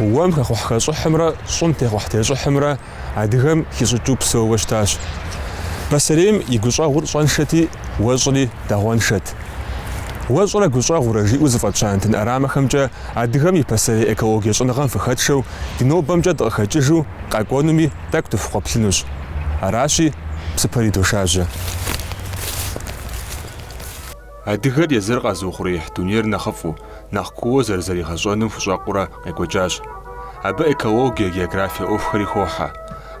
Уэм хэхъухьхэщӏыхьымрэ щӏым техъухьтещӏыхьымрэ адыгэм хищӏыкӏыу псэууэ щытащ. Пасэрейм и гущӏэгъур щӏэншэти, уэщӏри дагъуэншэт. Уэщӏрэ гущӏэгъурэ жиӏэу зыфӏэтща нэтын ӏэрамэхэмкӏэ адыгэм и пасэрей экологие щӏэныгъэм фыхэтшэу ди нобэмкӏэ дыкъыхэкӏыжу къэкӏуэнуми тӏэкӏу дыфхукъуэплъынущ. Аращи, псыпэр идошажьэ. Адыгэр езыр къэзыухъуреихь дунейр нэхъыфӏу, нэхъ кууэ зэрызэригъэщӏэным хущӏэкъурэ къекӏуэкӏащ. Абы экологие, географие ӏуэхухэри хохьэ.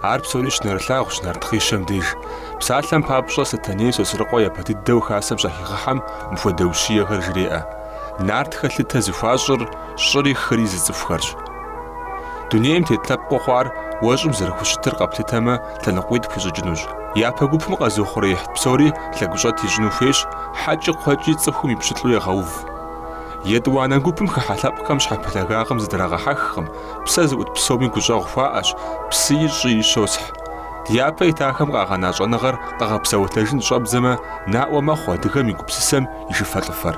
Ар псори щынэрылъагъущ Нарт хъишэм деж. Псалъэм папщӏэ, Сэтэней Сосрыкъуэ япэ дыдэу хасэм щахигъэхьэм мыпхуэдэ ущиехэр жреӏэ. Нартхэ лъытэ зыхуащӏыр щӏыри хыри зыцӏыхухэрщ. Дунейм тет лъэпкъыу хъуар уэщӏым зэрыхущытыр къэплъытэмэ, лъэныкъуитӏ хуищӏыкӏынущ. Япэ гупым къэзыухъуреихь псори лъэгущӏэт ищӏыну хуейщ, хьэкӏи кхъуэкӏи цӏыхум и пщылӏу егъэув. Етӏуанэ гупым хыхьэ лъэпкъхэм щхьэпэлъагагъым зыдрагъэхьэхкъым, псэ зыӏут псоми гущӏэгъу хуаӏэщ, псыи щӏыи щосхь. Ди япэ итахэм къагъэна щӏэныгъэр къэгъэпсэлъэжын щӏэбдзэмэ, наӏуэ мэхъу адыгэм и гупсысэм и шыфэлӏыфэр.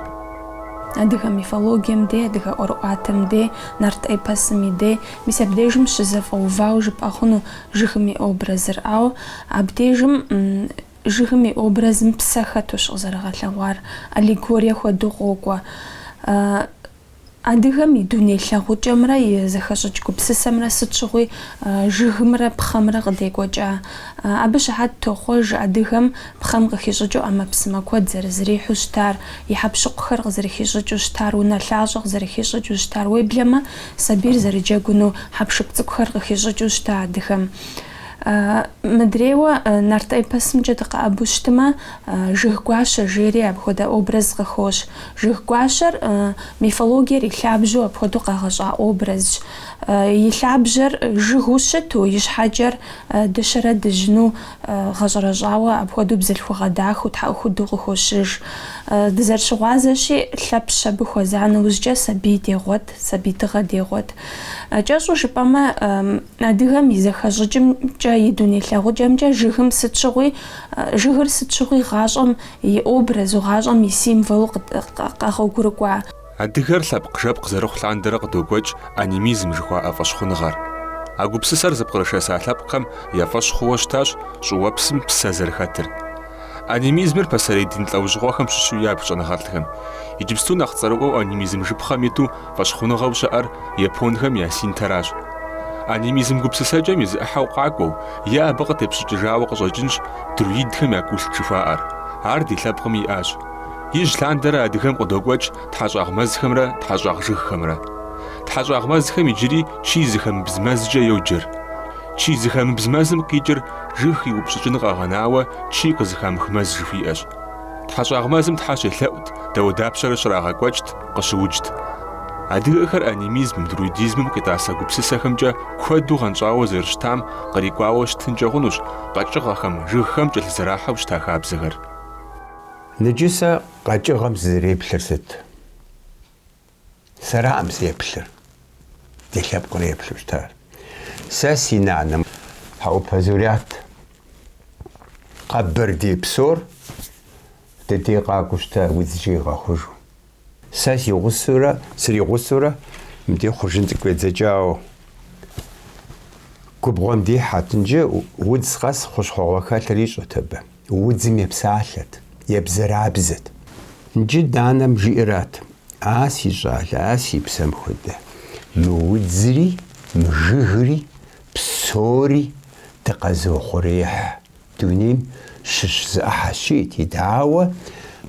Адыгэ мифологием дей, адыгэ ӏуэрыӏуатэм дей, нарт эпосым и дей, мис абдежым щызэфӏэувауэ жыпӏэ хъуну, Жыгым и образыр. Ауэ абдежым жыгым и образым псэ хэтущ къызэрыгъэлъэгъуар, аллегорие хуэдэу къокӏуэ. Адыгэм и дуней лъагъукӏэмрэ и зэхэщӏыкӏ гупсысэмрэ сыт щыгъуи жыгымрэ пхъэмрэ къыдекӏуэкӏа. Абы щыхьэт тохъуэж адыгэм пхъэм къыхищӏыкӏыу ӏэмэпсымэ куэд зэрызэрихьэу щытар, и хьэпщыкъухэр къызэрыхищӏыкӏыу щытар, унэлъащӏэ къызэрыхищӏыкӏыу щытар. Уеблэмэ, Сабийр зэрыджэгуну хьэпшып цӏыкӏухэр къыхищӏыкӏыу щыта адыгэм. Мыдрейуэ нарт эпосымкӏэ дыкъэӏэбу щытмэ, Жыг гуащэ жери апхуэдэ образ къыхощ. Жыг гуащэр мифологиер и лъабжьэу апхуэдэу къэгъэщӏа образщ. И лъабжьэр жыгыу щыту, и щхьэкӏэр дыщэрэ дыжьыну гъэщӏэрэщӏауэ апхуэдэу бзылъхугъэ дахэу, тхьэӏухуду къыхощыж. Дызэрыщыгъуазэщи, Лъэпщ абы хуэза нэужькӏэ сабий дегъуэт. Сабий тыгъэ дегъуэт. Кӏэщӏу жыпӏэмэ, адыгэм и зэхэщӏыкӏымкӏэ, и дуней лъагъукӏэмкӏэ жыгым сыт щыгъуи, жыгыр сыт щыгъуи гъащӏэм и образу, гъащӏэм и символу къэгъуэгурыкӏуа. Адыгэр лъэпкъ-жэпкъ зэрыхъу лъандэрэ къыдокӏуэкӏ анимизм жыхуаӏэ фӏэщхъуныгъэр. А гупсысэр зыпкърышэса лъэпкъхэм я фӏэщ хъууэ щытащ щӏыуэпсым псэ зэрыхэтыр. Анимизмыр пасэрей дин лӏэужьыгъуэхэм щыщу ябж щӏэныгъэлӏхэм. Иджыпсту нэхъ цӏэрыӏуэу анимизм жыпхъэм иту фӏэщхъуныгъэу щыӏэр японхэм я синтэращ. Анимизм гупсысэкӏэм и зы ӏыхьэу къакӏуэу е абы къытепщӏыкӏыжауэ къыщӏэкӏынщ друидхэм я культ жыхуаӏэр. Ар ди лъэпкъым иӏащ. Ижь лъандэрэ адыгэм къыдокӏуэкӏ тхьэщӏагъ мэзхэмрэ тхьэщӏагъ жыгхэмрэ. Тхьэщӏагъ мэзхэм иджыри чы зыхэмыбз мэзкӏэ йоджэр. Чы зыхэмыбз мэзым къикӏыр Жыг иупщӏыкӏын къэгъэнауэ чы къызыхамых мэз жыхуиӏэщ. Тхьэщӏагъ мэзым Тхьэ щелъэӏут, дауэдапщэрэ щрагъэкӏуэкӏт, къыщыуджт. Адыгэхэр анимизмым, друидизмым къитӏасэ гупсысэхэмкӏэ куэду гъэнщӏауэ зэрыщытам кърикӏуауэ щытынкӏэ хъунущ къэкӏыгъэхэм, жыгхэм кӏэлъызэрахьэу щыта хабзэхэр. Нджы сэ къэкӏыгъэм сызэреплъыр сыт? Сэраӏым сеплъыр, ди лъэпкъыр еплъу щытар. Сэ си нанэм. Хьэӏупэ Зурят, къэбэрдей псор ди дей къакӏуэу щыта, удзкӏэ игъэхъужу. Сэ си гъусэурэ, сригъусэурэ мыдей хъуржын цӏыкӏу едзэкӏауэ. Губгъуэм дихьэт, нджы удз къэс хъущхъуэгъуэ хэлъыр ищӏэт абы. удзым епсалъэт, ебзэрабзэт. Нджы нанэм жиӏэрат, А си щӏалэ, а си псэм хуэдэ, мы удзри, мы жыгри, псори дыкъэзыухъуреихь, дунейм щыщ зы ӏыхьэщ, жиӏэти, дауэ,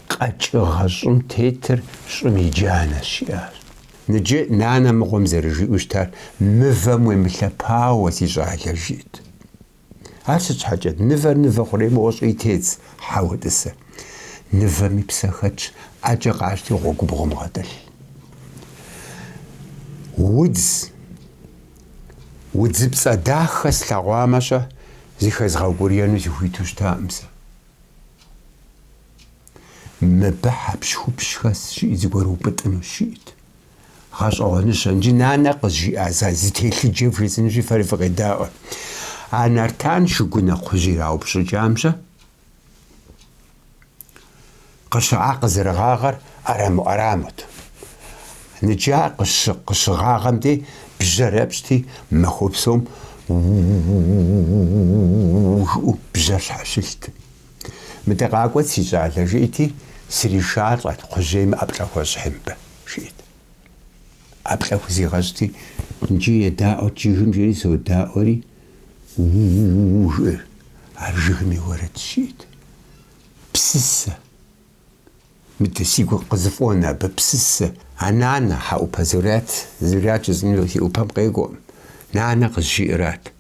къэкӏыгъэ щӏым тетыр щӏым и джанэщ, жиӏащ. Нджы нанэ мыгъуэм зэрыжиӏэу щытар, Мывэм уемылъэпауэ, си щӏалэ, жиӏэт. Ар сыт щхьэкӏэ? Нывэр нывэ хъурей моуэ щӏыи тедз, хьэуэ тӏысэ. Нывэми псэ хэтщ, ӏэкӏэ къащти гъуэгубгъум гъэтӏылъ. Удз, удзыпцӏэ дахэ слъэгъуамэ-щэ, зыхэзгъэукӏурьену сыхуиту щытакъым сэ. Мыбы хьэпщхупщ хэсщ, жиӏи, зыгуэр упӏытӏынущ, жиӏэт. Гъэщӏэгъуэныщэ, нджы нанэ къызжиӏа зы телъыджэ вжесӏэнущи фэри фыкъедаӏуэ. А Нартан шыгунэ кхъужь ираупщӏыкӏам-щэ, къыщыӏа къызэрыгъагъэр ӏэрамэу ӏэрамэт. Нджы къыщыгъагъэм дей, бжьэр епщӏти, махуэ псом у-у-у-у жиӏэу бжьэр щхьэщылът. Мыдэ къакӏуэт, си щӏалэ, жиӏэти, сришалӏэт, кхъужьейми ӏэплӏэ хуэщӏхьи мыбы, жиӏэт. ӏэплӏэ хузигъэщӏти, нджы едаӏуэт жыгым, жери содаӏуэри, у-у-у-у, жиӏэр, ар жыгым и уэрэдщ, жиӏэт. Псысэ. Мыдэ, сигу къызэфӏонэ абы, псысэ. А нанэ, Хьэӏупэ Зурят, Зурят жысӏэну си ӏупэм къекӏуэкъым, нанэ къызжиӏэрат.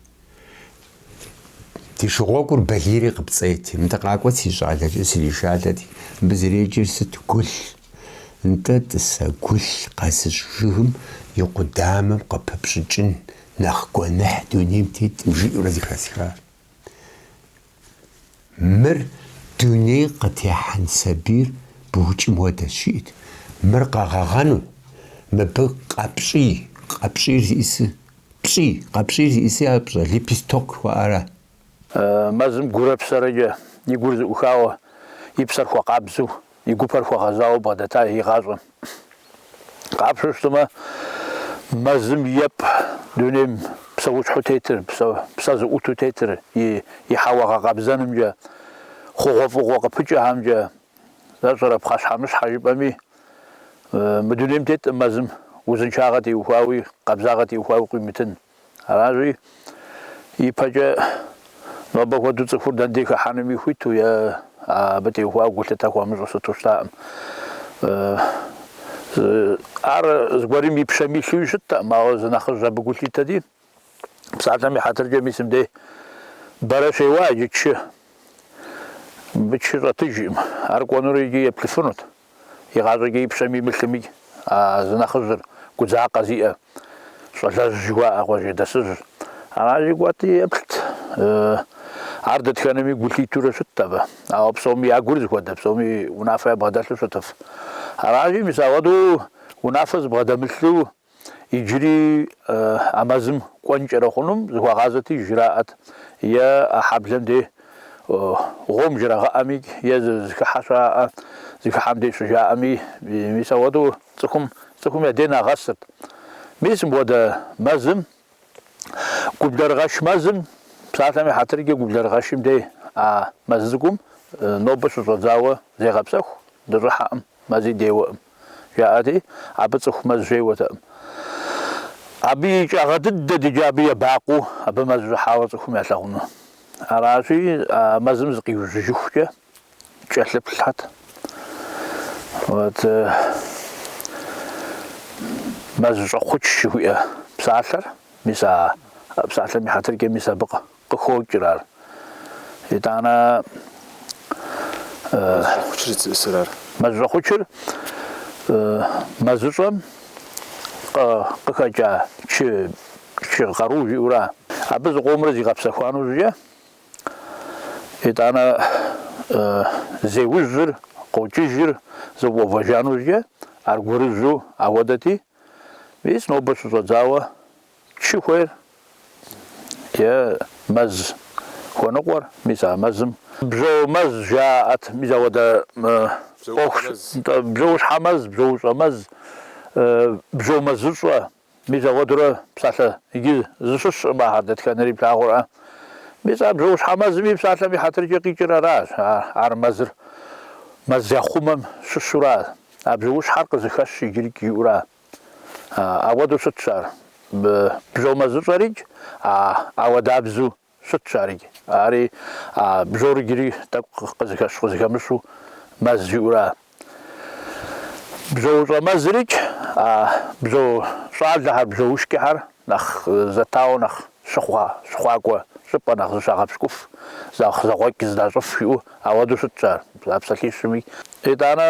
Ди шыгъуэгур балийри къыпцӏейти, мыдэ къакӏуэт си щӏалэ, сришалӏэти, мыбы зэреджэр сыт, гулъ. Нтӏэ, тӏасэ, гулъ къэзыщӏ жыгым и къудамэм къыпыпщӏыкӏын нэхъ гуэныхь дунейм теткъым, жиӏэурэ зыхэсхар. Мыр дуней къытехьэн сабийр букӏым хуэдэщ, жиӏэт. Мыр къэгъэгъэну, мыбы къэпщӏий, къэпщӏийр зиӏису, пщӏий, къэпщӏийр зиӏису ар пщӏэ, лепесток жыхуаӏэра? Мэзым гурэ псэрэкӏэ и гур зыӏухауэ, и псэр хуэкъабзэу И гупэр хуэгъэзауэ бгъэдэта игъащӏэм. Къапщу щытмэ, мэзым епӏ дунейм псэущхьэу тетыр, псэ зыӏуту тетыр и хьэуэ гъэкъэбзэнымкӏэ, хъугъуэфӏыгъуэ къыпыкӏэхэмкӏэ зэщӏэрэ пхъэщхьэмыщхьэ жыпӏэми, мы дунейм теткъым мэзым узыншагъэ теухуауи къабзагъэ теухуауи къуимытын. Аращи, ипэкӏэ нобэ хуэдэу цӏыхур дэн дей хыхьэнуми хуиту е абы теухуауэ гулъытэ хуэмыщӏу сыту щытакъым. Ар зыгуэрым и пщэм илъуи щыттэкъым, ауэ зы нэхъыжь абы гу лъитэти, псалъэм и хьэтыркӏэ мис мыбдей бэрэ щеуа иджы чы. Мыбы чы щӏэтыжкъым, ар кӏуэнур икӏи еплъыфынут. Игъащӏэкӏэ и пщэм имылъыми, а зы нэхъыжьыр, гудзакъэ зиӏэ щӏалэжь жыхуаӏэ къуажэдэсыжьыр, аращи кӏуэти, еплът. Ар дэтхэнэми гу лъитурэ щытт абы. Ауэ псоми я гур зыхуэдэ, псоми унафэ ябгъэдэлъу щытыф. Аращи, мис, ауэдэу унафэ зыбгъэдэмылъу Иджыри а мэзым кӏуэнкӏэрэ хъунум зыхуагъазэти, жраӏэт, е а хьэблэм дей гъуом жрагъыӏэми, е зы зэхыхьэ щаӏэ, зэхыхьэм дей щыжаӏэми, мис ауэдэу цӏыхум цӏыхум я дей нагъэсырт. Мис мыпхуэдэ мэзым Гублэрыгъэш мэзым, псалъэм и хьэтыркӏэ Гублэрыгъэшым дей а мэз цӏыкӏум нобэ щыщӏэдзауэ зегъэпсэху дыщӏыхьэкъым, мэзи деуэкъым, жаӏэти, абы цӏыху мэз щеуэтэкъым. Абы икӏагъэ дыдэт икӏи абы ебакъуэу абы мэз щӏыхьауэ цӏыхум ялъагъуну. Аращи, а мэзым зыкъиужьыжыхукӏэ кӏэлъыплъхэт. Вот Мэзщӏэхъуч жыхуиӏэ псалъэр, мис а псалъэм и хьэтыркӏэ мис абы къыхокӏыр ар. Итӏанэ Мэзщӏэхъуч зищӏысыр ар. Мэзщӏэхъучыр Мэзыщӏэм къыхэкӏа чы къару жиӏэура. Абы зыкъомрэ зигъэпсэхуану жыжьэ Итӏанэ зеужьыр, къокӏыжыр зэфӏэувэжа нэужькӏэ, аргуэрыжьу ауэдэти, мис нобэ щыщӏэдзауэ чы хуейр е мэз хуэныкъуэр, мис а мэзым бжьо мэз жаӏэт, мис ауэдэ ӏуэхущ, бжьоущхьэмэз, бжьоущӏэмэз, бжьомэзыщӏэ, Мис ауэдэурэ псалъэ иджы зыщыщ щӏымэ ахэр дэтхэнэри плъагъурэ. Мис а бжьоущхьэмэзми псалъэм и хьэтыркӏэ къикӏыр аращ, ар мэзыр мэз яхъумэм щыщура, а бжьоущхьэр къызыхэщ иджырикӏ жиӏэура. Ауэдэу щытщ ар, бжьомэзыщӏэрикӏ ауэдабзэу. Щытщ ари. Ари а бжьор иджыри тӏэкӏу къызыхэщ-къызыхэмыщу мэз жиӏэура. Бжьоущӏэмэзырикӏ, а бжьо щӏалэхэр, бжьоушкӏэхэр нэхъ зэтауэ нэхъ щыхъуа, щыхъуакӏуэ щӏыпӏэ, нэхъ зыщагъэпщкӏуф, зэгъ, зэгъуэкӏ зыдащӏыф жиӏэу ауэдэу щытщ ар а псалъищми. Итӏанэ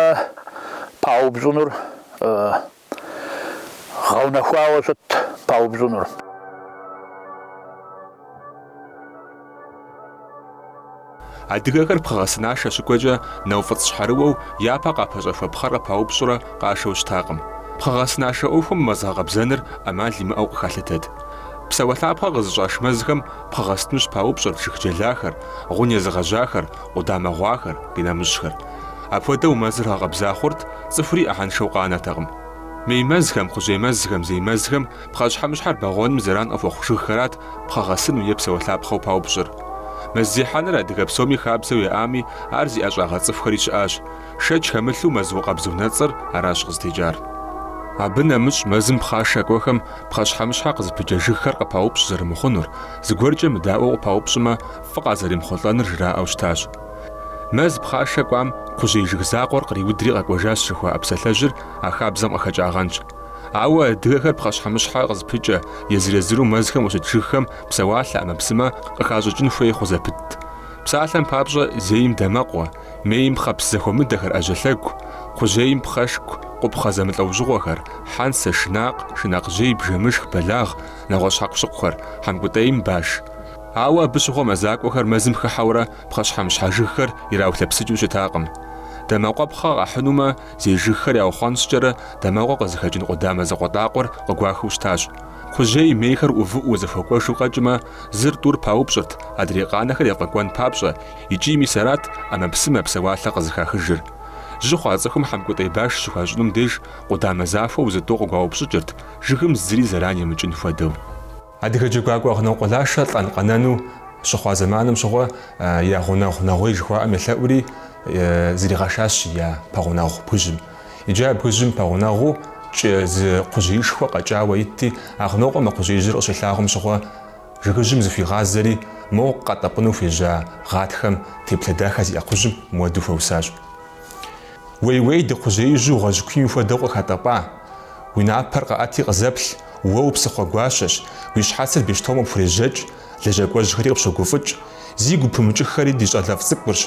паупщӏынур Гъэунэхуауэ щытт паупщӏынур. Адыгэхэр пхъэгъэсынашэ щыкӏуэкӏэ нэуфӏыцӏщхьэрыуэу япэ къапэщӏэхуэ пхъэр къыпаупщӏурэ къашэу щытакъым. Пхъэгъэсынашэ ӏуэхум мэз гъэкъэбзэныр ӏэмал имыӏэу къыхалъытэт. Псэуалъапхъэ къызыщӏаш мэзхэм пхъэгъэсыну щыпаупщӏырт жыг джэлахэр, гъун езыгъэжьахэр, къудамэ гъуахэр, къинэмыщӏхэр. Апхуэдэу мэзыр гъэкъэбза хъурт, цӏыхури ӏыхьэншэу къанэтэкъым. Мей мэзхэм, кхъужьей мэзхэм, зей мэзхэм пхъэщхьэмыщхьэр бэгъуэным зэран къыхуэхъу жыгхэрат пхъэгъэсыну е псэуалъапхъэу паупщӏыр. Мэз зехьэныр адыгэ псоми хабзэу яӏами, ар зи ӏэщӏагъэ цӏыхухэри щыӏащ. Шэч хэмылъу Мэзукъэбз унэцӏэр аращ къызытекӏар. Абы нэмыщӏ мэзым пхъашэ кӏуэхэм пхъэщхьэмыщхьэ къызыпыкӏэ жыгхэр къыпаупщӏ зэрымыхъунур, зыгуэркӏэ мыдаӏуэу къыпаупщӏмэ, фӏы къазэремыхъулӏэныр жраӏэу щытащ. Мэз пхъашэ кӏуам кхъужьей жыг закъуэр къриудри къэкӏуэжащ жыхуаӏэ псалъэжьыр а хабзэм къыхэкӏагъэнщ. Ауэ адыгэхэр пхъэщхьэмыщхьэ къызыпыкӏэ, езыр-езыру мэзхэм щыт жыгхэм псэуалъэ ӏэмэпсымэ къыхащӏыкӏын хуей хъу зэпытт. Псалъэм папщӏэ, зейм дамэкъуэ, мейм пхъэпс зэхуэмыдэхэр, ӏэжьэлъэгу, кхъужьейм пхъэшку, къупхъэ зэмылӏэужьыгъуэхэр, хьэнцэ, шынакъ, шынакъжьей, бжэмышх, бэлагъ, нэгъуэщӏ хьэкъущыкъухэр, хьэмкӏутӏейм баш. Ауэ абы щыгъуэ мэзакӏуэхэр мэзым хыхьэурэ Пхъэщхьэмыщхьэ жыгхэр ираулъэпсыкӏыу щытакъым. Дамэкъуэпхъэ къахьынумэ, зей жыгхэр яухъуэнщӏкӏэрэ дамэкъуэ къызыхэкӏын къудамэ закъуэтӏакъуэр къыгуахыу щытащ. Кхъужьей мейхэр ӏувыӏуу зэхуэкӏуэжу къэкӏмэ, зыр тӏур паупщӏырт, адрей къанэхэр ефӏэкӏуэн папщӏэ, икӏи мис арат ӏэмэпсымэ псэуалъэ къызыхахыжыр. Жьы хъуа цӏыхум хьэмкӏутӏей баш щыхуащӏынум деж къудамэ захуэу зы тӏу къыгуаупщӏыкӏырт, жыгым зыри зэран емыкӏын хуэдэу. Адыгэ джэгуакӏуэ Агънокъуэ Лашэ лӏэн-къэнэну щыхъуа зэманым щыгъуэ я гъунэгъу Нэгъуей жыхуаӏэм елъэӏури зригъэшащ я пэгъунэгъу бгыжьым. Иджы а бгыжьым пэгъунэгъуу кӏэ зы кхъужьеишхуэ къэкӏауэ итти, Агънокъуэм мы кхъужьеижьыр къыщилъагъум щыгъуэ жыгыжьым зыхуигъазэри, моу къэтӏэпӏыну хуежьа гъатхэм теплъэ дахэ зиӏэ кхъужьым мыуэду хуэусащ. Уей-уей, ди кхъужьеижьу гъуэжь куийм хуэдэу къыхатӏэпӏа! Уи напӏэр къэӏэти къызэплъ, уэ упсыхъуэ гуащэщ, уи щхьэцыр бещтомэ пхурежьэкӏ, лэжьакӏуэжьхэри къыпщогуфӏыкӏ. Зигу пымыкӏыххэри ди щӏалэфӏ цӏыкӏурщ.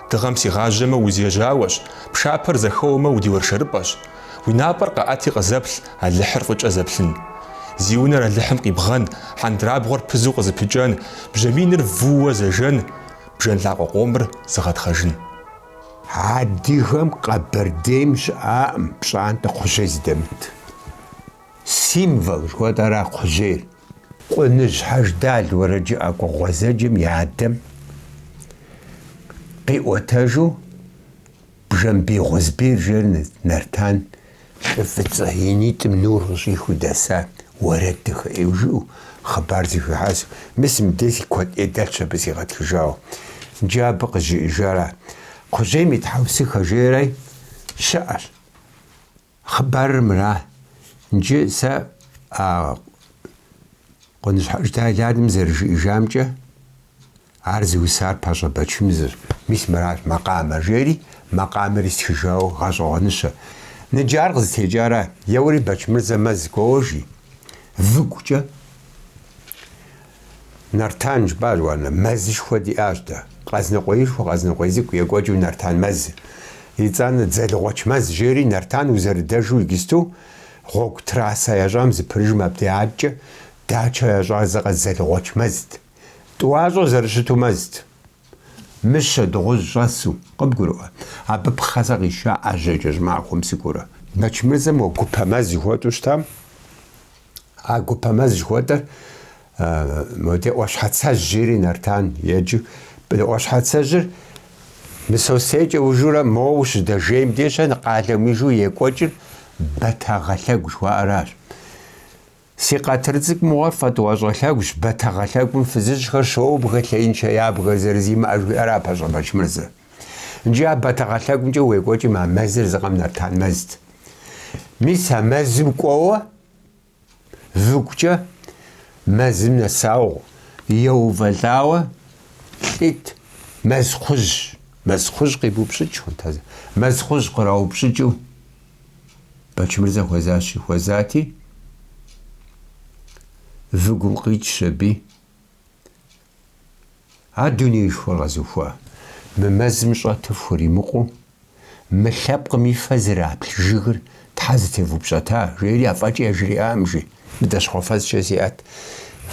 Дыгъэм сигъажьэмэ, усижьауэщ, пшапэр зэхэуэмэ, удиуэршэрыпӏэщ. Уи напӏэр къэӏэти къызэплъ, Алыхьыр фӏыкӏэ зэплъын. Зи унэр Алыхьым къибгъэн, хьэндрабгъуэр пызу къызыпыкӏэн, бжьэ миныр вууэ зэжэн, бжэн лъакъуэ къомыр зыгъэтхъэжын. Адыгэм Къэбэрдейм щыӏаӏым пщӏантӏэ кхъужьей зыдэмыт. Символ жыхуэтӏэра кхъужьейр. Къуныжь Хьэждал уэрэджыӏакӏуэ гъуэзэджэм и адэм къиӏуэтэжу Бжэмбий Гъузбий жери Нартан Лӏы фӏыцӏэ и нитӏым нур къыщӏихыу дэса уэрэд дахэ ӏейуэ жиӏэу хъыбар зэхуихьэсу, мис мыбдей куэд ӏей дэлъщ абы сигъэтхыжауэ. Иджы абы къызжиӏэжара? Кхъужьейм и тхьэусыхэ жери щыӏэщ. Хъыбарыр мыра. Иджы сэ а Къуныжь Хьэждал и адэм зэрыжиӏэжамкӏэ, Ар зыусар Пащӏэ Бэчмырзэщ, мис мыращ макъамэ, жери макъамэри стхыжауэ гъэщӏэгъуэныщэ. Ныджы ар къызытекӏара? еуэри Бэчмырзэ мэз кӏуэуэ, жи, выгукӏэ, Нартан жыпӏащ, уанэ, мэзышхуэ диӏащ дэ, Къэзныкъуеишхуэ, Къэзныкъуей цӏыкӏу, екӏуэкӏыу Нартан мэз, итӏанэ Дзэлгъуэч мэз, жери Нартан узэрыдэжу иджысту гъуэгу трасса ящӏам зыпырыжым абдежкӏэ дачэ ящӏар зыкъэ Дзэлгъуэч мэзт. Тӏуащӏэ зэрыщыту мэзт. Мыщэ дыгъужь щӏэсу, къыбгурыӏуэ, абы пхъэ сэ къисша ӏэжьэкӏэ щӏымахуэм сыкӏуэурэ. Бэчмырзэм уэ гупэ мэз жыхуэтӏу щытам, а гупэ мэз жыхуэтӏэр модэ Ӏуащхьэцэжь жери Нартан еджэу. Ӏуащхьэцэжьыр Мысостейкӏэ ужурэ моуэ ущыдэжейм деж къалэм ижу екӏуэкӏыр Бэтэгъэлъэгу жыхуаӏэращ. Си къэтыр цӏыкӏу мыгъуэр фэ Тӏуащӏэ лъэгущ, бэтэгъэлъэгум фызыжьхэр щоубгэ лъеиншэ ябгэ зэрызимыӏэ, жиӏэра Пащӏэ Бэчмырзэ. Ныджы а бэтэгъэлъэгумкӏэ уекӏуэкӏым а мэзыр зы къэм Нартан мэзт. Мис а мэзым кӏуэуэ выгукӏэ мэзым нэсауэ еувэлӏауэ лӏит, мэз кхъужь, мэз кхъужь къибупщӏыкӏ хъунт а зы, мэз кхъужь къраупщӏыкӏыу. Бэчмырзэ хуэзащи хуэзати, выгум къикӏщ аби. А дунеишхуэр къэзухуа? Мы мэзым щӏэту фхуримыкъуу, мы лъэпкъым и фэ зэраплъ жыгыр щхьэ зытевупщӏэта? жери афӏэкӏи яжриӏам, жи. Быдэщхъуэфэзкӏэ зиӏэт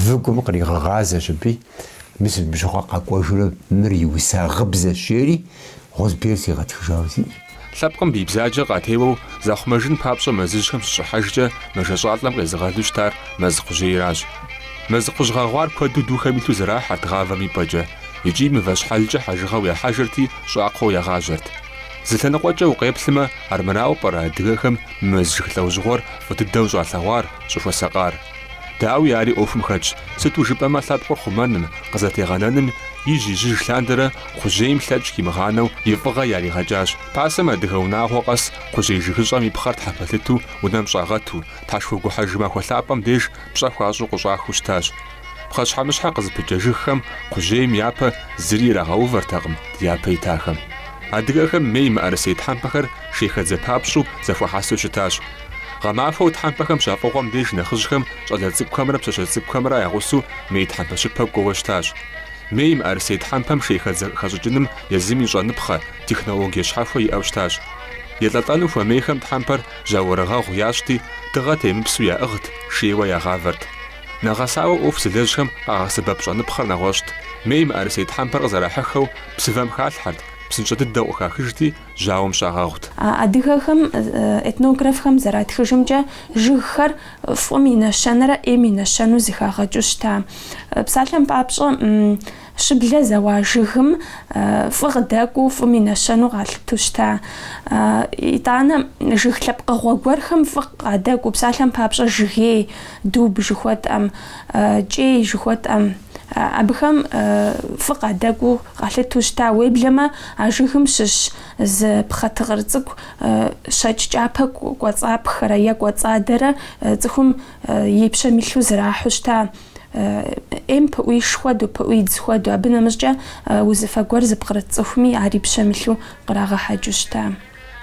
выгум къригъэгъазэщ аби, мис бжыгъэ къэкӏуэжурэ мыр иуса гъыбзэщ, жери Гъозбийр сигъэтхыжауэ сиӏэщ. Лъэпкъым бий бзаджэ къатеуэу захъумэжын папщӏэ мэзыжьхэм щыщӏыхьэжкӏэ мэжэщӏалӏэм къезыгъэлу щытар мэз кхъужьейращ. Мэз кхъужь гъэгъуар куэду духэм илъу зэрахьэрт гъавэм и пӏэкӏэ, икӏи мывэщхьэлкӏэ хьэжыгъэу яхьэжырти щӏакхъуэу ягъажьэрт. Зы лъэныкъуэкӏэ укъеплъмэ, армырауэ пӏэрэ адыгэхэм мэз жыг лӏэужьыгъуэр фӏы дыдэу щӏалъэгъуар, щӏыхуэсакъар? Дауи, ари ӏуэхум хэтщ, сыту жыпӏэмэ лъэпкъыр хъумэным, къызэтегъэнэным ижь-ижьыж лъандэрэ кхъужьейм лъэкӏ къимыгъанэу и фӏыгъэ яригъэкӏащ. Пасэм адыгэ унагъуэ къэс кхъужьей жыгыщӏэм и пхъэр тхьэпэлъыту унэм щӏагъэту, тхьэшхуэ гухьэж махуэ лъапӏэм деж пщӏэ хуащӏу къыщӏахыу щытащ. Пхъэщхьэмыщхьэ къызыпыкӏэ жыгхэм кхъужьейм япэ зыри ирагъэувэртэкъым дяпэ итахэм. Адыгэхэм мей мыӏэрысей тхьэмпэхэр шейхэдзэ папщӏу зэхуахьэсу щытащ. Гъэмахуэу тхьэмпэхэм щафӏыгъуэм деж нэхъыжьхэм щӏалэ цӏыкӏухэмрэ пщащэ цӏыкӏухэмрэ я гъусэу мей тхьэмпэ щыпэ кӏуэуэ щытащ. Мей мыӏэрысей тхьэмпэм шейхэдзэ хэщӏыкӏыным езым и щӏэныпхъэ, технологие щхьэхуэ иӏэу щытащ. Елӏэлӏэну хуэмейхэм тхьэмпэр жьауэрыгъэгъу ящӏти, дыгъэ темыпсу яӏыгът, шейуэ ягъавэрт. Нэгъэсауэ ӏуэху зылэжьхэм къагъэсэбэп щӏэныпхъэр нэгъуэщӏт. Мей мыӏэрысей тхьэмпэр къызэрахьыххэу псывэм халъхьэрт, псынщӏэ дыдэу къыхахыжти, жьауэм щагъэгъут. Адыгэхэм, этнографхэм зэратхыжымкӏэ, жыгхэр фӏым и нэщэнэрэ ӏейм и нэщэну зыхагъэкӏыу щыта. Псалъэм папщӏэ, Щыблэ зэуа жыгым фӏы къыдэкӏуу фӏым и нэщэнэу къалъыту щыта. Итӏанэ жыг лъэпкъыгъуэ гуэрхэм фӏы къадэкӏуу, псалъэм папщӏэ, жыгей, дуб жыхуэтӏэм, кӏей жыхуэтӏэм, абыхэм фӏы къадэкӏуу къалъыту щыта. Уеблэмэ а жыгым щыщ зы пхъэ тыкъыр цӏыкӏу щэкӏ кӏапэ кӏуэцӏапхэрэ е кӏуэцӏадэрэ цӏыхум и пщэм илъу зрахьу щыта. ӏейм пыӏуиш хуэдэу, пыӏуидз хуэдэу, абы нэмыщӏкӏэ узыфэ гуэр зыпкърыт цӏыхуми ар и пщэм илъу кърагъэхьэкӏыу щыта.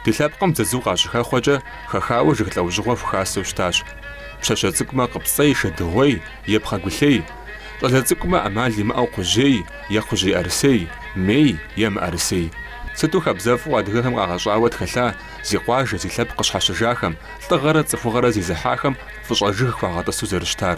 Ди лъэпкъым дзадзу къащыхэхъуэкӏэ хэхауэ жыг лӏэужьыгъуэ хухасэу щытащ. Пщащэ цӏыкӏумэ къыпцӏей шэдыгъуей е пхъэгулъей, щӏалэ цӏыкӏумэ ӏэмал имыӏэу кхъужьей е кхъужьӏэрысей, мей е мыӏэрысей. Сыту хабзэфӏу адыгэхэм къагъэщӏауэ тхэлъа зи къуажэ, зи лъэпкъ къыщхьэщыжахэм, лӏыгъэрэ цӏыхугъэрэ зезыхьахэм фӏыщӏэ жыг хуагъэтӏысу зэрыщытар!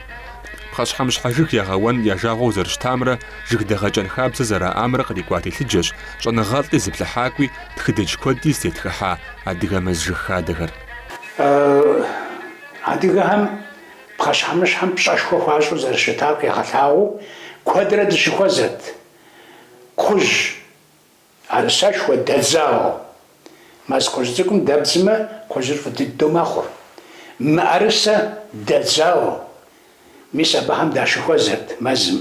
Пхъэщхьэмыщхьэ жыг ягъэуэн я жагъуэу зэрыщытамрэ жыг дэгъэкӏэн хабзэ зэраӏамрэ кърикӏуа телъыджэщ щӏэныгъэлӏи зыплъыхьакӏуи тхыдэдж куэди зытетхыхьа адыгэ мэз жыг хадэхэр. Адыгэхэм пхъэщхьэмыщхьэм пщӏэшхуэ хуащӏу зэрыщытар къигъэлъагъуэу куэдрэ дыщыхуэзэрт. Кхъужь. Ӏэрысэшхуэ дэдзауэ. Мэз кхъужь цӏыкӏум дэбдзмэ, кхъужьыр фӏы дыдэу мэхъур. Мыӏэрысэ дэдзауэ. Мис абыхэм дащыхуэзэрт мэзым.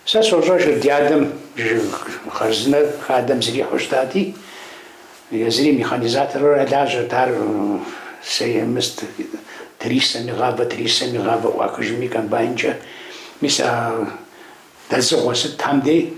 Сэ сощӏэжыр ди адэм жыг хъарзынэр хадэм зэрихьэу щытати, езыри механизатору лажьэрт, ар сеемыст, трисэми гъавэ, трисэми, гъавэ ӏуахыжми комбайнкӏэ. Мис а дэдзыгъуэ сытхэм дей.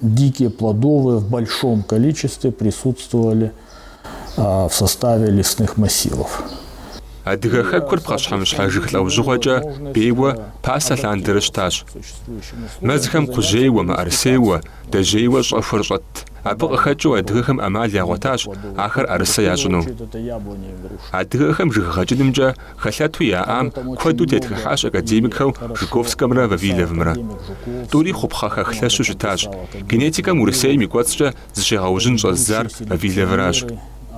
Дикие плодовые в большом количестве присутствовали в составе лесных массивов. Адыгэ хэкур пхъэщхьэмыщхьэ жыг лӏэужьыгъуэкӏэ бейуэ пасэ лъандэрэ щытащ. Мэзхэм кхъужьейуэ, мыӏэрысейуэ, дэжьейуэ щӏэхуэр щӏэтт. Абы къыхэкӏыу адыгэхэм ӏэмал ягъуэтащ ахэр ӏэрысэ ящӏыну. Адыгэхэм жыг гъэкӏынымкӏэ Хэлъэту яӏам куэду тетхыхьащ академикхэу Жуковскэмрэ Вавиловымрэ. Тӏури хъупхъэхэх лъэщу щытащ. Генетикэм Урысейм и кӏуэцӏкӏэ зыщегъэужьын щӏэздзар Вавиловращ.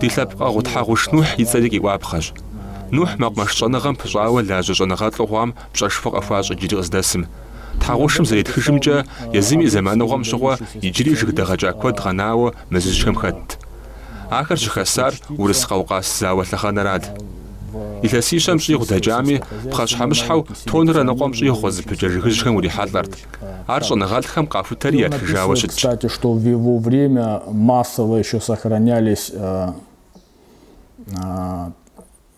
Ди лъэпкъэгъу Тхьэгъуш Нухь и цӏэри къиӏуапхъэщ. Нухь мэкъумэш щӏэныгъэм пыщӏауэ лажьэ щӏэныгъэлӏу хъуам пщӏэшхуэ къыхуащӏ иджыри къыздэсым. Тхьэгъушым зэретхыжымкӏэ, езым и зэманыгъуэм щыгъуэ иджыри жыг дэгъэкӏа куэд къэнауэ мэзыжьхэм хэтт. Ахэр щыхасар Урыс-Къэукъас зауэ лъэхъэнэрат. Илъэсищэм щӏигъу дэкӏами, пхъэщхьэмыщхьэу тонрэ ныкъуэм щӏигъу къызыпыкӏэ жыгыжьхэм урихьэлӏэрт. Ар щӏэныгъэлӏхэм къахутэри ятхыжауэ щытщ.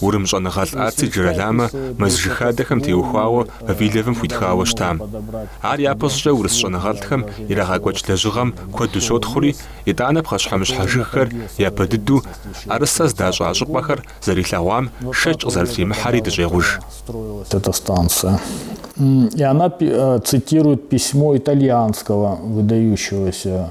Урым щӏэныгъэлӏ Ацци Джироламэ мэз жыг хадэхэм теухуауэ Вавиловым хуитхауэ щытам. Ар япэ щӏыкӏэ урыс щӏэныгъэлӏхэм ирагъэкӏуэкӏ лэжьыгъэм куэду щотхъури, итӏанэ пхъэщхьэмыщхьэ жыгхэр япэ дыдэу ӏэрысэ здащӏа щӏыпӏэхэр зэрилъэгъуам шэч къызэрытримыхьэри дыщӏегъуж. Эта станция. И она цитирует письмо итальянского выдающегося.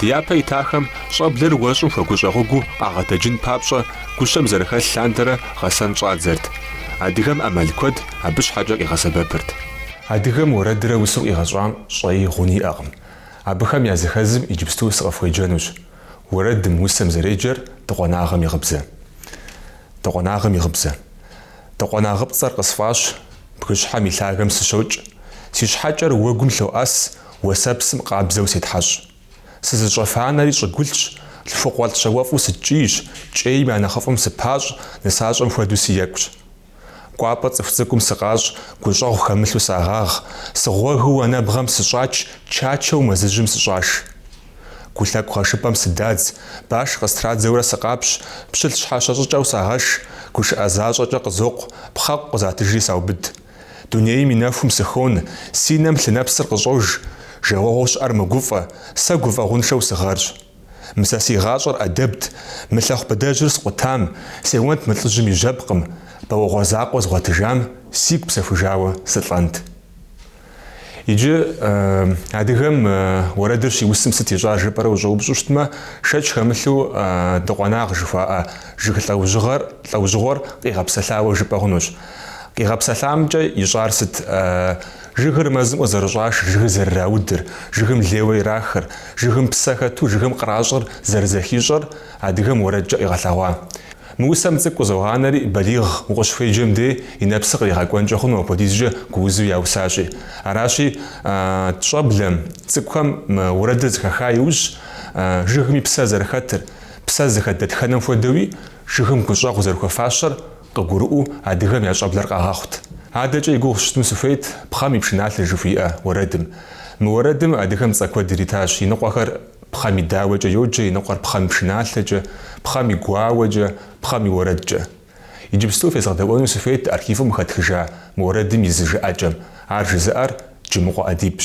Ди япэ итахэм щӏэблэр уэщӏым хуэгущӏэгъуэгуу къагъэтэджын папщӏэ гущэм зэрыхэлъ лъандэрэ гъэсэн щӏадзэрт. Адыгэм ӏэмал куэд абы щхьэкӏэ къигъэсэбэпырт. Адыгэм уэрэдрэ усэу къигъэщӏам щӏэи гъуни иӏэкъым. Абыхэм языхэзым иджыпсту сыкъыфхуеджэнущ. Уэрэдым, усэм зэреджэр Дыкъуэнагъым и гъыбзэ. Дыкъуэнагъым и гъыбзэ. Дыкъуэнагъыпцӏэр къысфӏащ, бгыщхьэм и лъагэм сыщокӏ. Си щхьэкӏэр уэгум лъоӏэс, Уэсэпсым къабзэу сетхьэщӏ. Сызыщӏэфа анэри щӏыгулъщ, лъхукъуэлӏ щауэфӏу сыткӏийщ, кӏейм я нэхъыфӏым сыпащӏ, нысащӏэм хуэдэу сыекӏущ. Кӏуапӏэ цӏыху цӏыкӏум сыкъащӏ, гущӏэгъу хэмылъу сагъагъ, сыгъуэгыу анэбгъэм сыщӏач, чачэу мэзыжьым сыщӏаш. Гу лъэкӏу гъэшыпӏэм сыдадз, баш къыстрадзэурэ сыкъапщ, пщылӏ щхьэщэ щӏыкӏэу сагъэш, гушыӏэ защӏэкӏэ къызокъу, пхъэкъу къызатыжри саубыд. Дунейм и нэхум сыхон, си нэм лъынэпсыр къыщӏож, жагъуэгъуу щыӏэр мэгуфӏэ, сэ гуфӏэгъуншэу сыгъэрщ. Мы сэ си гъащӏэр ӏэдэбт, мы лъэхъу быдэжьыр скъутам, сеуэнт мы лӏыжьым и жьэпкъым, бауэгъуэ закъуэ згъуэтыжам сигу псэхужауэ сылӏэнт. Иджы адыгэм уэрэдыр щиусым сыт ищӏар жыпӏэрэ ущӏэупщӏу щытмэ, шэч хэмылъу Дыкъуэнагъ жыхуаӏэ жыг лӏэужьыгъэр, лӏэужьыгъуэр къигъэпсэлъауэ жыпӏэ хъунущ. Къигъэпсэлъамкӏэ ищӏар сыт? Жыгыр мэзым къызэрыщӏаш, жыгыр зэрыраудыр, жыгым лейуэ ирахыр, жыгым псэ хэту жыгым къращӏыр зэрызэхищӏэр адыгэм уэрэдкӏэ къигъэлъэгъуа. Мы усэм цӏыкӏу къызогъанэри, балигъ укъыщыхуеджэм дей и нэпсыр къригъэкӏуэнкӏэ хъуну апхуэдизкӏэ гуузу яусащи. Аращи, тщӏэблэм, цӏыкӏухэм уэрэдыр зэхэха иужь, жыгми псэ зэрыхэтыр, псэ зыхэт дэтхэнэм хуэдэуи, жыгым гущӏэгъу зэрыхуэфащэр Къыгурыӏуэу адыгэм я щӏэблэр къагъэхъут. Адэкӏэ и гугъу сщӏыну сыхуейт пхъэм и пшыналъэ жыхуиӏэ уэрэдым. Мы уэрэдым адыгэм цӏэ куэд иритащ, Иныкъуэхэр пхъэм и дауэкӏэ йоджэ, Иныкъуэр пхъэм и пшыналъэкӏэ, пхъэм и гуауэкӏэ, пхъэм и уэрэдкӏэ. Иджыпсту фезгъэдэӏуэну сыхуейт архивым къыхэтхыжа мы уэрэдым и зы жыӏэкӏэм, ар жызыӏэр Джымыкъуэ ӏэдибщ.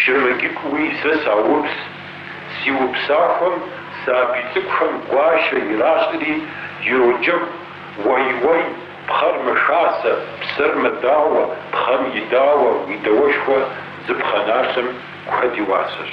Щрэмэкӏыкӏуи сэ саупс, си упсахуэм сабий цӏыкӏухэм гуащэ иращӏри, ироджэгу, Уэй-уэй, пхъэр мэхасэ, псэр мэдауэ, пхъэм и дауэ, уи дауэшхуэ зы пхъэналъэм куэд и уасэщ.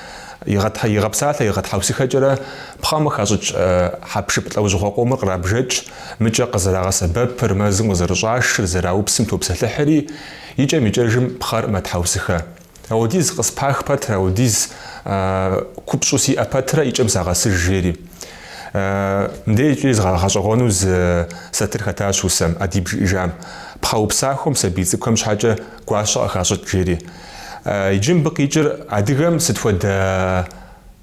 Игъэтхьэ-игъэпсалъэ игъэтхьэусыхэкӏэрэ пхъэм хащӏыкӏ хьэпшып лӏэужьыгъуэ къомыр кърабжэкӏ, мыкӏэ къызэрагъэсэбэпыр, мэзым къызэрыщӏашыр, зэраупсым топсэлъыхьри, икӏэм-икӏэжым пхъэр мэтхьэусыхэ. Ауэдиз къыспах пэтрэ, ауэдиз купщӏу сиӏэ пэтрэ икӏэм сагъэсыж, жери. Мыдей икӏи згъэгъэщӏэгъуэну зы сатыр хэтащ усэм, ӏэдиб жиӏэжам, пхъэупсахуэм сабий цӏыкӏухэм щхьэкӏэ гуащэ къыхащӏыкӏ, жери. Иджы мыбы къикӏыр адыгэм сыт хуэдэ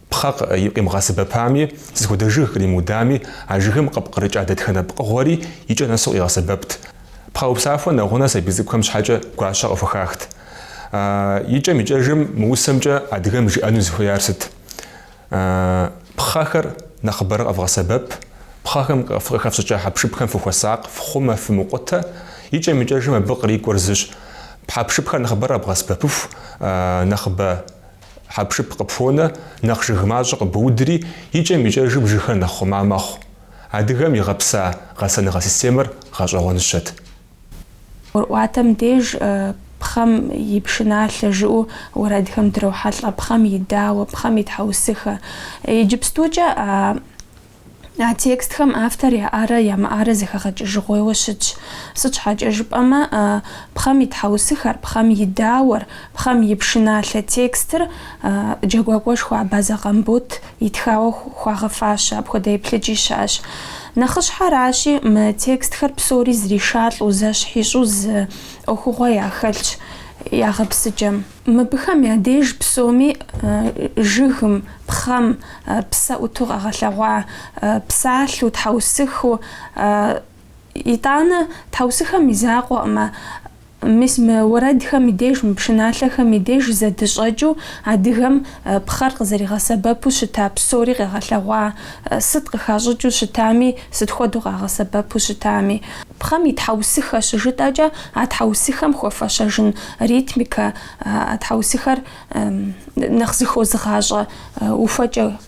пхъэ къимыгъэсэбэпами, сыт хуэдэ жыг къримыудами, а жыгым къыпкърыкӏа дэтхэнэ пкъыгъуэри и кӏэ нэсу къигъэсэбэпт. Пхъэупсахуэ нэгъунэ сабий цӏыкӏухэм щхьэкӏэ гуащэ къыхухахт. Икӏэм-икӏэжым мы усэмкӏэ адыгэм жиӏэну зыхуеяр сыт? Пхъэхэр нэхъыбэрэ къэвгъэсэбэп, пхъэхэм къыхэфщӏыкӏа хьэпшыпхэм фыхуэсакъ, фхъумэ, фымыкъутэ. Икӏэм-икӏэжым абы кърикӏуэр зыщ. Хьэпшыпхэр нэхъыбэрэ къэбгъэсэбэпыху, нэхъыбэ хьэпшып къыпхуонэ, нэхъ жыг мащӏэ къыбуудри, икӏэм-икӏэжым жыгхэр нэхъ хъума мэхъу. Адыгэм игъэпса гъэсэныгъэ системэр гъэщӏэгъуэныщэт. Уэрӏуатэм деж пхъэм и пшыналъэ жыӏэу уэрэдхэм дрохьэлӏэ, пхъэм и дауэ, пхъэм и тхьэусыхэ. Иджыпстукӏэ а а текстхэм автор яӏарэ ямыӏарэ зэхэгъэкӏыжыгъуейуэ щытщ. Сыт щхьэкӏэ жыпӏэмэ, пхъэм и тхьэусыхэр, пхъэм и дауэр, пхъэм и пшыналъэ текстыр джэгуакӏуэшхуэ Абазэ Къамбот итхауэ хуагъэфащэ, апхуэдэ еплъыкӏи щыӏэщ. Нэхъыщхьэращи, мы текстхэр псори зэришалӏэу, зэщхьищӏу зы ӏуэхугъуэ яхэлъщ я гъэпсыкӏэм. Мыбыхэм я деж псоми жыгым, пхъэм, псэ ӏуту къэгъэлъэгъуа, псалъэу, тхьэусыхыу, итӏанэ тхьэусыхэм и закъуэкъымэ, Мис мы уэрэдхэм и деж, мы пшыналъэхэм и деж зэдыщӏэкӏыу адыгэм пхъэр къызэригъэсэбэпу щыта псори къэгъэлъэгъуа, сыт къыхащӏыкӏыу щытами, сыт хуэдэу къагъэсэбэпу щытами. Пхъэм и тхьэусыхэ щыжытӏэкӏэ, а тхьэусыхэм хуэфэщэжын ритмикэ, а тхьэусыхэр нэхъ зыхозыгъащӏэ ухуэкӏэ